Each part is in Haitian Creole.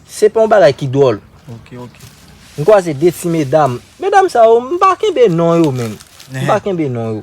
Se pa yon bagay ki dwòl. M kwaze 2 ti medam. Medam sa yo, m pa kenbe non yo menm. M pa kenbe non yo.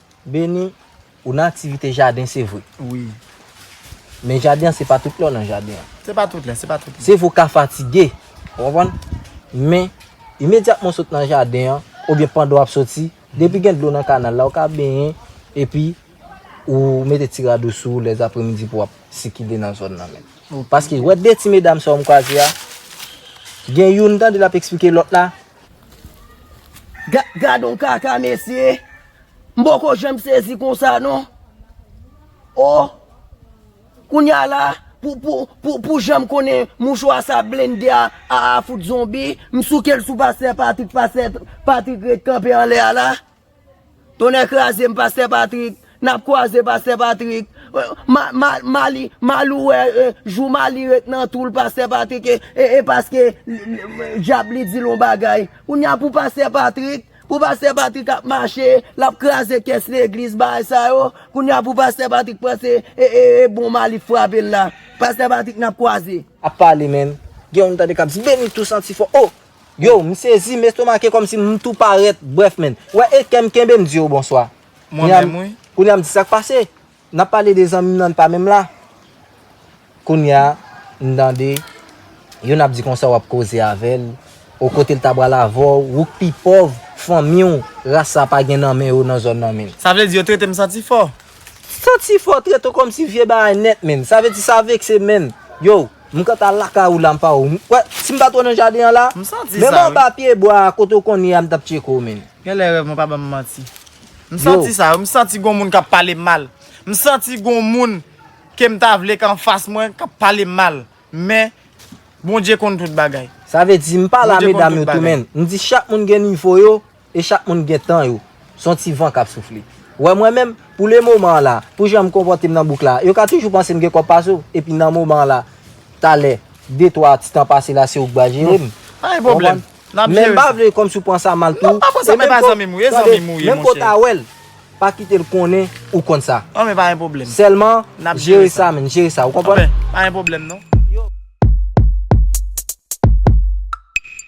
Beni, ou nan aktivite jaden se vre. Wi. Men jaden an se pa tout lè ou nan jaden an. Se pa tout lè, se pa tout lè. Se vre ou ka fatige, ou konprann? Men, imedyatman ou sot nan jaden an, oubyen pandan w ap soti, depi gen dlo nan kanal la, ou ka benyen, epi ou mete ti rad ou sou ou lèzapremidi pou w ap sikile nan zòn nan menm. Paske, wè de ti medam sa ou m kwaze a, gen youn m tande l ap esplike lòt la, Gadon kaka mesye. M poko janm sezi konsa non. Oh. Kounya la pou janm konnen mouchwa sa blende a a fout zonbi. M souke l sou pastè Patrick, pastè Patrick ret kanpe anlè a la. Tonnè krazem pastè Patrick nap kwaze pastè Patrick Malou wè jou Mali ret nan toul pastè Patrick e paske dyab li dil yon bagay kounya pou pastè Patrick pou pastè Patrick ap mache lap kraze kès legliz bagay sa yo kounya pou pastè Patrick panse e bon Mali frapel la pastè Patrick nap kwaze. Ap pale menm. Gen youn m tande kap di Benito santi fò oh Yow m sezi m estomake kòmsi m tou parèt brèf menn wè e kèm kenbem diw bonswa kounya m di sak pase nap pale de zanmim nan pa menm la kounya m tande youn ap di konsa wap koze avèl o kotel ta pral avèw ou k pi pòv fanmiw ras sa pa gen nan men yo nan zòn nan menn. Sa vle di yo tretem santi fò. Santi fò trete w kòmsi vye bagay nèt menn sa vle di sa vekse menn yow. M kanta lakay ou la m pa wè w. M kwè si m pa t wè w nan jaden an la. M santi sa wi. Menm anba pyebwa a kote w konn ye a m t ap tcheke w menn. Genlè rèv mwen pa banm manti. M santi sa wi. M santi gon moun k ap pale m mal. M santi gon moun ke m ta vle k anfas mwen k ap pale m mal. Men Bondye konn tout bagay. Sa vle di m pa la medam yo tou menn. M di chak moun gen nivo yo E chak moun gen tan yo. S on ti van k ap soufle. Wè mwen menm, pou le moman an la, pou jan m konpòte m nan bouk la, yo ka toujou panse m gen kòb pase w, epi nan moman an la, talè, de twa ti tan pase la se ou k va jere m. Pa gen pwoblèm. N ap jere sa. Men m pa vle kòmsi w pran sa mal tou. Non, m pa pran sa mal. E pa zanmi m ou ye, zanmi m ou ye, monchè. Tande, menm ke w ta wè l, pa kite l konnen ou konn sa. An men pa gen pwoblèm. Sèlman, jere sa menn, jere sa. Ou konprann? An men, pa gen pwoblèm non.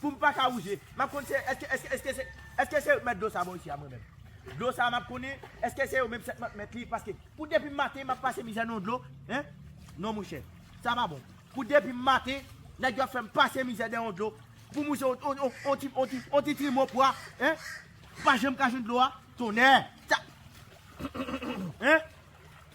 Poum paka rouje map konn se eske eske eske se eske se yo ki mèt dlo sa bò isi a mwen menm dlo sa map konnen eske se yo menm sètman ki mèt li paske pou depim maten map pase mizè nan yon dlo hein non monchè sa pa bon pou depim maten nèg yo ap fèm pase mizè nan yon dlo poum rouje yon yon yon ti yon ti yon ti trimo pwa hein pa janm ka jwenn dlo a tonnè sa hein.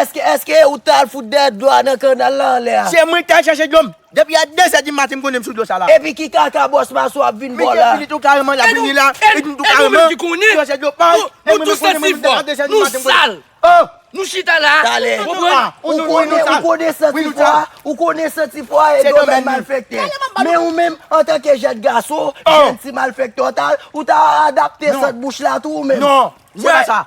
Eske eske ou tal fout dè dlo a nan kanal la anlè a. Se mwen ki ta al chache dlo m. Depi a 2 zè di maten m konnen m sou dlo sa la. Epi ki kaka bòs masou ap vin bo la. Misye fini tou kareman lap vini la. E nou menm ki konnen. Dlo se dlo pay. Nou tou santi fò. Nou sal. Nou chita la. Tale. Ou konnen ou konnen santi fò a. Ou konnen santi fò a e domèn malfèktè. Men ou menm antanke jèn gaso. Jèn ti malfèktè ou ta adapte sant bouch la tou ou menm. Non. Se pa sa.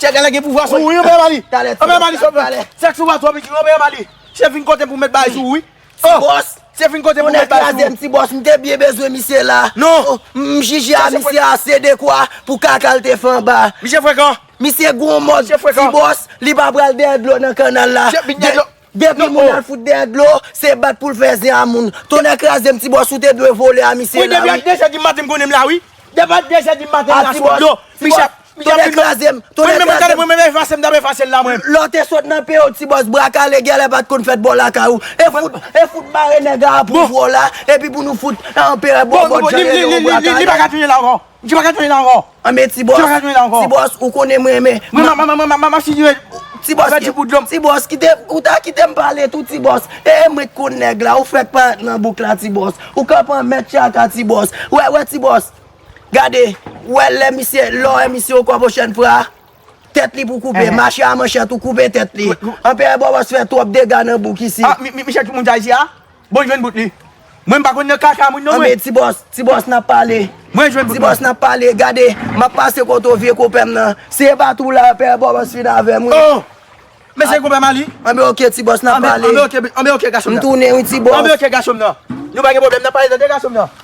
Chef gala gen pouvwa sou ou wi Anpè Mali Anpè Mali chef la Sèks ou pa twò piti wi Anpè Mali Chef vin kotem pou mèt bagay sou ou wi Ti bòs Chef vin kotem pou mèt bagay sou ou Yon nèg krazem ti bòs m te byen bezwen misye la Non M jije a misye a se dekwa pou kaka l te fè anba Misye frekan Misye gwo mòd Ti bòs Li pa pral dèyè dlo nan kannal la Chef bit dèyè dlo Depi moun al fout dèyè dlo, se bat poul fè zen a moun. Tonnè krazem ti boss ou te dwe vole a misye la wi. Wi depi a 2 zè di maten m konnen m la wi. Depi a 2 zè di maten m la sou dlo. Michel, Michel fin ban m. Mwen menm tande mwen menm efase m tap efase l la mwen. Lè w te sot nan peyi w ti boss bra kale gèlè pat konn fèt bò lakay ou. E fout, e fout mare nèg a apwouvre w la epi pou nou fout anperè bòbòt jan rele w bra kale. Li pa ka touye l ankò. Msi paka tande la anko. Anmyee ti boss. Msi paka tande la anko. Ti boss ou konnen m renmen. Mwen map figure ti boss pèdi bout dlom. Ti boss kite ou ta kite m pale tou ti boss. Ee mwen t konn nèg la ou fèk paret nan bouk la ti boss. Ou kap an mèt tchaka ti boss. Wè wè ti boss. Gade ou wè lè misye lè w wè misye ou kòbo chèn fra. Tèt li pou koupe. Mache a manchèt ou koupe tèt li. Anperè bòbòs fè twòp dega nan bouk isi. Misye ki moun Dayiti a? Bon jwenn bout li. Mwen m pa konn nan kaka moun non mwen. Anmeyy ti bòs, ti bòs nap pale. Mwen jwenn bout mwen. Ti bòs nap pale, gade map pase kote w vye konpè m nan. Se e pa tou la pè bòs fin avè m wi. Oh! Men se konpè Mali? Anmeyy ok ti bòs nap pale. Anmeyy ok, anmeyy ok gason m nan. M tounen wi ti bòs. Anmeyy ok gason m nan. Nou pa gen pwoblèm nap pale tande gason m nan.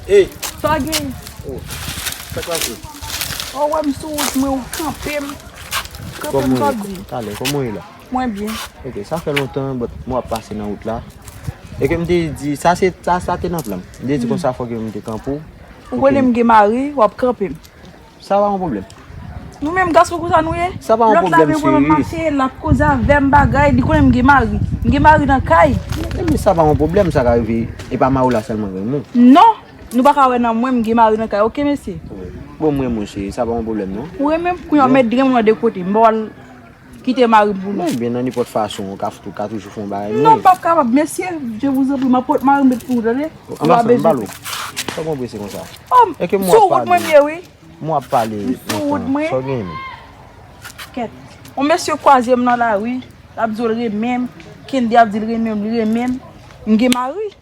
Hey! Sa gen? Oh! Sak pase? Oh wè m sou wout mwen ou kanpe m. Kanpe m sa di? Talè, kòman ou ye la? Mwen byen. Ok, sa fè lontan but mwen ap pase nan wout la. E ke m te di, sa se, sa te nan plan m. M te di konsa fòk yo m te kanpe ou. Ou konnen m gen mari, w ap kanpe m. Sa pa yon problem. Nou menm gason konsa nou ye. Sa pa yon problem cheri. Lot la vle wèm ap mache, lap koze avèm bagay, li konnen m gen mari. M gen mari nan kay. Ebyen sa pa yon problem sa ka rive. E pa mari w la selman k renmen w. Non! Nou paka wè nan mwen m gen mari nan kay ok mesye. Bon m renmen w cheri sa pa yon problem non. Ou renmen m? Kounya w met grenn mwen de kote. M pa wè l Kite mari m pou mwen. Mwen byen nan nenpòt fason ou ka toujou fè yon bagay mwen. Non pap kapab mesye je vous en prie map pot mari m pou ou tande. Anbasan m ba l ou. Sa w konn prese konsa. Sou wout mwen m ye wi. M wap pale sou wout mwen. Sa w gen. Kèt. Yon mesye kwaze m nan lari lap di w l renmen m. Kendy ap di l renmen m li renmen m. M gen mari.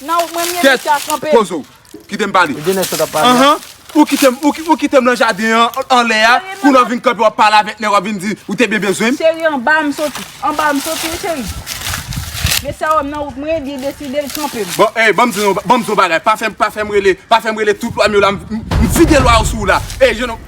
Nan ou mwen mye misye a kanpe. Kèt poze w. Kite m pale. Ou gen nèg sot ap pale a. Anhan. Ou kite m nan jaden an anlè a. Kounye a w vin kanpe w ap pale avèk nèg w ap vin di ou te byen bezwen m. Cheri anba a m soti. Anba a m soti wi cheri. Mesye a wè m nan wout mwen li deside l kanpe m. Bon ey ban m di w yon bagay. Pa fè m rele tout lwa m yo la. M vide lwa yo sou w la. Ey jènòm.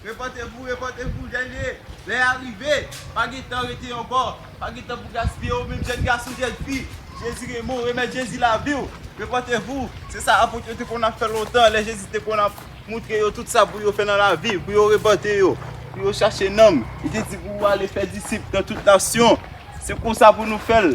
Repòte vou, repòte vou, jèn e, lè a rive, pa gen tan rete ankò, pa gen tan pou gaspiye ou menm jèn gason, jèn fi, Jezi gen mo, remèt Jezi lavi w, repòte vou, se sa apot yo te konn ap fè lontan, lè Jezi te konn ap moutre yo tout sa pou yo fè nan lavi, pou yo repòte yo, pou yo chache nanm, li te di pou ale fè disip nan tout nasyon, se konsa pou nou fè l.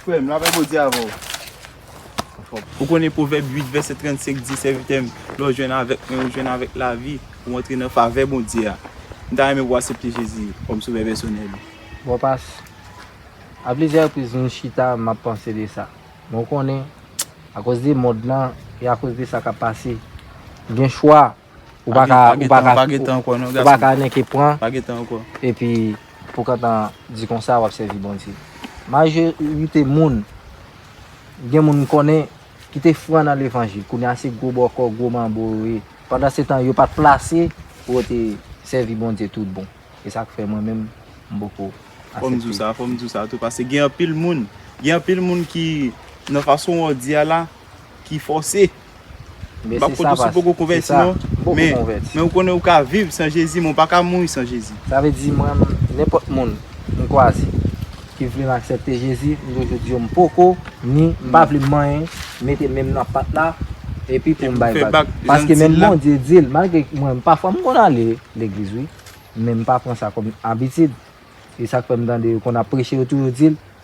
Frè m, lapè Bondye avè w. Anfòm. Ou konnen Pwovèb 8 vèsè 35 di, Sèvitè m, lè w jwenn avèk mwen, ou jwenn avèk lavi, ou antre nan favè Bondye a. M ta renmen pou w asepte Jezi kòm Sovè pèsonèl ou. Bon pas, a plizyè repriz m chita m ap panse de sa. Men w konnen, akoz de mond lan e akoz de sa k ap pase, m gen chwa. Ou pa ka, ou pa ka, pa gen tan ankò non gason. Ou pa ka nenke pran. Pa gen tan ankò. Epi pou kantan di konsa wap sèvi Bondye. Majorite moun, gen moun m konnen ki te fran nan levanjil, kounye a se gwo bòkò, gwo manbo yo ye. Pandan se tan yo pat plase pou yo te sèvi Bondye tout bon. E sak fè mwen menm m poko asepte. Fòm di w sa, fòm di w sa tou pase gen anpil moun, gen anpil moun ki nan fason wou di a la ki fòse. Mbap kote ou si poko konvèti non men ou konnen ou ka viv san jezi men ou pa ka mouri san jezi. Sa vle di mwen nenpòt moun m kwaze ki vle m aksèpte jezi m toujou di yo m poko ni m pa vle manyen mete menm nan pat la epi pou m bay vag paske menm bondye di l malgre mwen pafwa m konn ale legliz wi men m pa pran sa kòm abitid e sak fè m tande yo konn ap preche yo toujou di l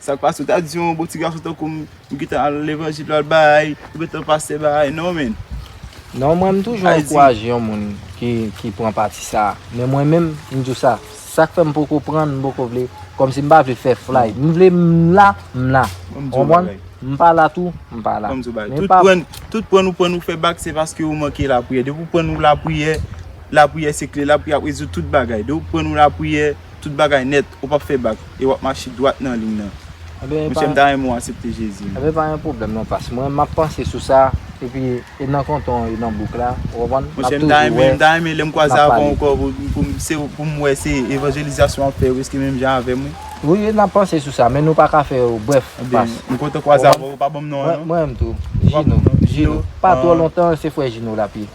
Sak pase ou ta di yon bon ti gason tankou m m gentan al levanjil al bay ou gentan pase bay non menn. Non mwen m toujou ankouraje yon moun ki pran pati sa men mwen menm m di w sa sak fè m poko pran m poko vle kòmsi m pa vle fè flay m vle m la m la ou konprann m pa la tou m pa la men pa tout pran ou pran ou fè bak se paske ou manke lapriyè depi ou pran ou lapriyè lapriyè se kle lapriyè ap rezoud tout bagay depi ou pran ou lapriyè tout bagay nèt. Ou pap fè bak e wap mache dwat nan liy nan. Monchè m ta renmen w asepte Jezi. Ebyen pa gen pwoblèm non pas. Mwen map panse sou sa epi e nan kontan an e nan bouk la. Ou konprann? Monchè m ta renmen, m ta renmen lè m kwaze avè w ankò pou m se pou m wè se evanjelizasyon wap fè wi eske menm jan avè m wi. Wi e nap panse sou sa men nou pa ka fè yo brèf pas. Ebyen m kontan kwaze avè w. Ou pa ban m non an non. Mwen menm tou. Jino. Jino. Pa twò lontan se frè Jino lap ye.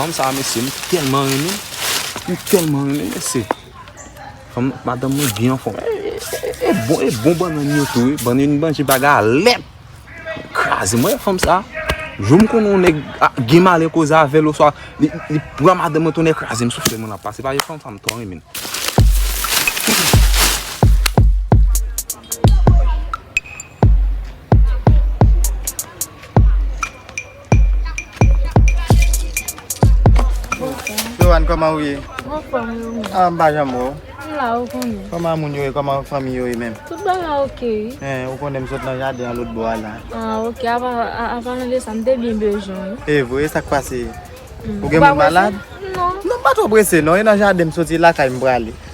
Fanm sa mesye m telman renmen l, m telman renmen l mesye. Fanm madanm mwen byen anfom. E bon e bon banann yo tou wi, banann m manje pa galèt. Kraze mwen fanm sa. Jou m konnen yon nèg gen malè koze avè l oswa li pran madanm mwen tonnè kraze m soufle mwen ap pase paske fanm sa m twò renmen l. Johanne, koman ou ye? Mwen fòm yo mwen. Ah, mwen pa jan mwen ou. Mwen la ou konnen. Koman moun yo ye? Koman fami yo ye menm? Tout ba la ok. Eh, ou konnen mwen sot nan jaden an lout bo a la. Ah, ok. Apa, apa nan de sa, mwen te byen bejoun. E eh, vwe, sak pase? Ou gen mwen malad? Non. Non, mwen pa to brese non, e nan jaden mwen soti la kay mwen prale.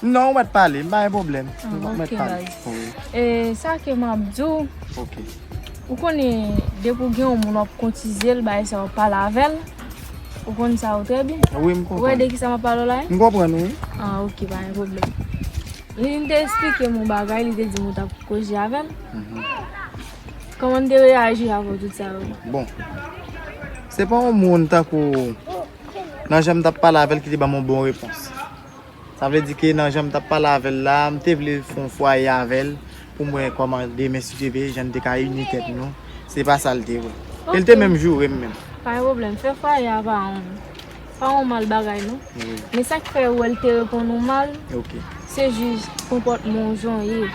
Non ou mèt pale, m pa gen pwoblèm. Ou mèt pale. E sa ke m ap di w. Ok. Ou konnen depi w gen yon moun w ap kotize l bay sa w pale avè l. Ou konnen sa yo trè byen. Wi m konprann. Ou wè de ki sa m ap pale w la? M konprann wi. A ok pa gen pwoblèm. Li vin te esplike m yon bagay li te di m ou t ap koze avè l. Kòman m te reyaji avè w tout sa yo? Bon. Se pa yon moun tankou nan jan m t ap pale avè l ki te ban m yon bon repons. Sa vle di ke nan jan m t ap pale avè l la, m te vle fè yon fwaye avè l pou m wè kòman demen si Dye vle jan n te ka ini tèt nou. Se pa sa l te vle. E l te menm joure m menm. Pa gen pwoblèm. Fè fwaye a pa yon mal bagay non. Men sa k fè ou wè l te reponn ou mal, se jis konpòtman w jan w ye.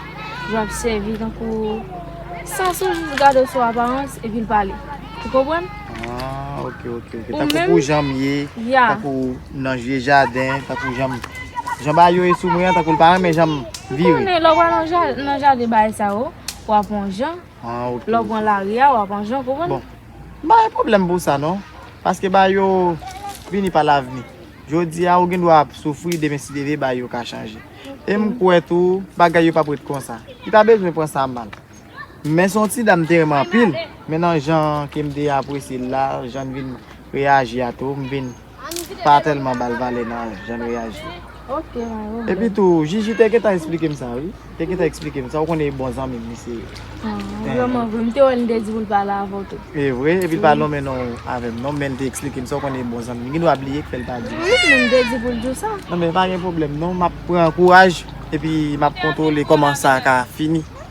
Jan w ap sèvi tankou. Sans ou jis gade w sou aparans epi l pale. Ou konprann? Ah ok ok ok. Ou menm. Tankou pou janm ye. Ya. Tankou nan vye jaden. Tankou janm. Jan bagay yo ye sou mwen an tankou l pa renmen janm vire. Ou konnen lè w pral nan jaden bagay sa yo. W ap on jan. Ah ok. Lè w pran lari a w ap on jan ou konprann? Bon. M pa gen pwoblèm pou sa non. Paske bagay yo vini pa lavni. Jodi a ou gen dwa ap soufri demen si Dye vle bagay yo ka chanje. E m kwè tou bagay yo pap ret konsa. Li pa bezwen pran sa mal. Men son ti dam te renmen anpil, men nan jan kem te apresye l la, jann vin reyaji a tou, m vin pa tèlman bal vale nan jann reyaji. Epi tou Jiji te gentan esplikem sa wi, te gentan esplikem sa ou konnen e bon zanmim li se. Vreman vre, m te wèl m te di pou l pale avèw tou. Evre, epi l pa lonmen non avèm non, menl te esplikem sa ou konnen e bon zanmim, gen dwa bliye ki fèl pa diw. Wi, men m te di poul diw sa. Non men pa gen pwoblèm non, map pran kouraj epi map kontwole kòman sa ka fini.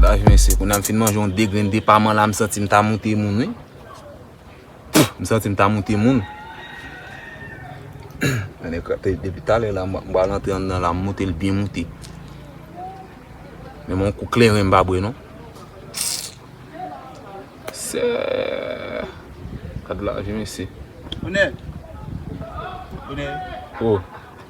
Bagay mwen se kounam fin manje yon de grenn depaman la m santi m ta moute moun wi m santi m ta moute moun anne krater depi talè la m bal antre anndan la m moute l byen moute menm yon kou kleren m pa bwe non seeee gad lavi mesye one one oh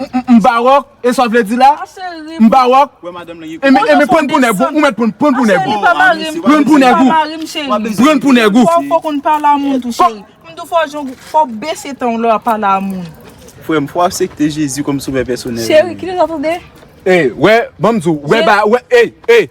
M pa rock e sa w vle di la? M pa rock e men prann pou nèg ou mèt prann pou nèg ou prann pou nèg ou prann pou nèg ou Fò w konn pale a moun tou cheri M di w fò w jwenn fò w bese tan w lè w ap pale a moun Frè m fò w asepte Jezi kòm sovè pèsonèl ou Cheri kite sa tande Ey wè ban m di w wè ba wè ey ey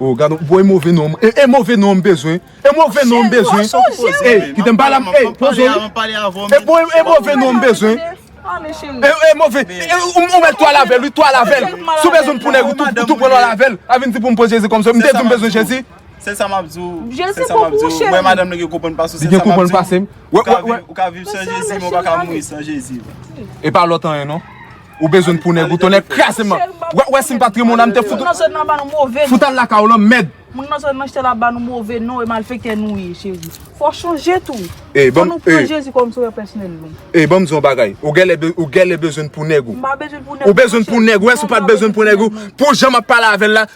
Oh gad on bon e move non e move non m bezwen e move non m bezwen ey kite m pale avm ey poze w e bon e move non m bezwen e move ou met twal avèl wi twal avèl si w bezwen m pou nèg ou tou pran twal avèl a vin di pou m poze jezi kòmsi m te di m bezwen jezi se sa map di w se sa map di w wè madanm nan gen konprann pase w li gen konprann pase m ou ka viv san jezi men ou pa ka mouri san jezi epa lòt anyen non. Ou bezwenn pou nèg ou tonnè kraze m Ou wè si m pa t renmen w la m te fout ou Fout al lakay w lan mèd Moun nan zòn nan chte la ba nou move non e malfektè nou ye cheri Fò chanje tou Fò nou pran Jezi kòm sovè pèsonèl nou E banm di w yon bagay Ou gèlè bezwenn pou nèg ou Ou bezwenn pou nèg ou Ou wè si w pa t bezwenn pou nèg ou Pou jan m ap pale avè l la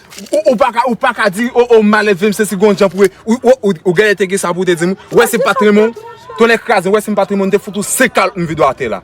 Ou pa ka di o o m malelve m sesi gon jan pou e Ou gèlè te gen sa pou w te di m Ou wè si m pa t renmen w Tonnè kraze m Ou wè si m pa t renmen w m te fout ou 5 kalòt m vide w atè la.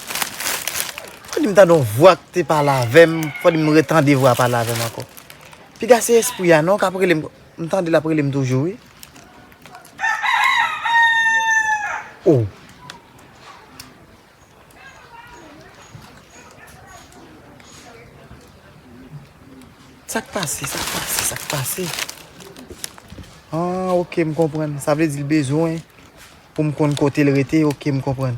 Fò dim tande yon vwa ki te pale avèm, fò dim retande vwa pale avèm ankò. Piga se espri a non kap relem, m tande lap relem toujou wi. Oh. Sak pase, sak pase, sak pase. Ah ok m konprann, sa vle di l bezwen. Poum konn kotel rete ok m konprann.